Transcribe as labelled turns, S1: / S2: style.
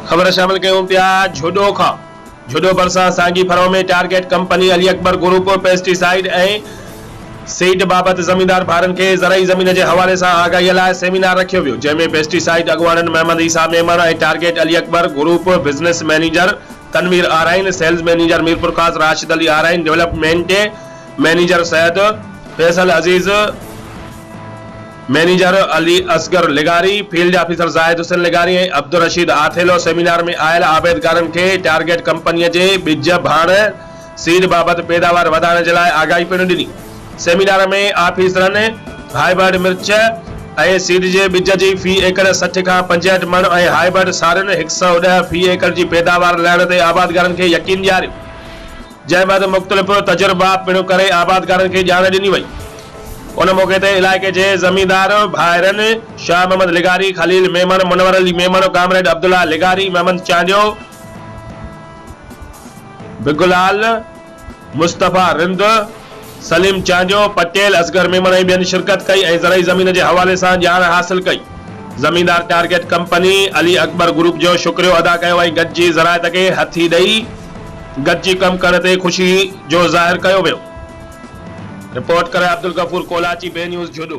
S1: خبر شامل ڪيون پيا جھوڏو کان جھوڏو ڀرسان سانگي ڦرو ۾ target company Ali Akbar group pesticide ۽ seed بابت زميندار ڀائرن کي زرعي زمين جي حوالي سان آگاهي لاء سيمينار رکيو ويو جنهن ۾ پيسٽي سائيڊ اڳواڻن Muhammad Isa Memon ۽ target Ali Akbar group business manager Tanveer Arain, sales manager Mirpurkhas, Rashid Ali Arain, development manager Syed Faisal Aziz, manager Ali Asghar لغاري، فيلڊ آفيسر زاهد حسين لغاري ۽ عبدالرشيد آٿيلو سيمينار ۾ آيل آبيدگارن کي ٽارگيٽ ڪمپنيء جي ٻج ڀاڻ، سيڊ بابت پيداوار وڌائڻ جي لاء آگاهي پڻ ڏني. سيمينار ۾ آفيسرن هائبرڊ مرچ ۽ سيڊ جي ٻج جي في ايڪڙ سٺ کان پنجهٺ مڻ ۽ هائبرڊ سارين هڪ سؤ ڏهه في ايڪڙ جي پيداوار لهڻ تي آبادگارن کي يقين ڏياريو. جنهن بعد مختلف تجربا پڻ ڪري آبادگارن کي ڄاڻ ڏني وئي. ان موقعي تي علائقي جي زميندار ڀائرن شاهه محمد لغاري، خليل ميمڻ، منور علي ميمڻ، ڪامريڊ عبدالله لغاري، محمد چانڊيو، بگلال، مصطفيٰ رند، سليم چانڊيو، پٽيل، اصغر ميمڻ ۽ ٻين شرڪت ڪئي ۽ زرعي زمين جي حوالي سان ڄاڻ حاصل ڪئي. زميندار target company, Ali Akbar group جو شڪريو ادا ڪيو ۽ گڏجي زراعت کي هٿي ڏئي گڏجي ڪم ڪرڻ تي خوشي جو ظاهر ڪيو ويو. رپورٽ ڪري عبدالغفور ڪولاچي، بي نيوز، جهڏو.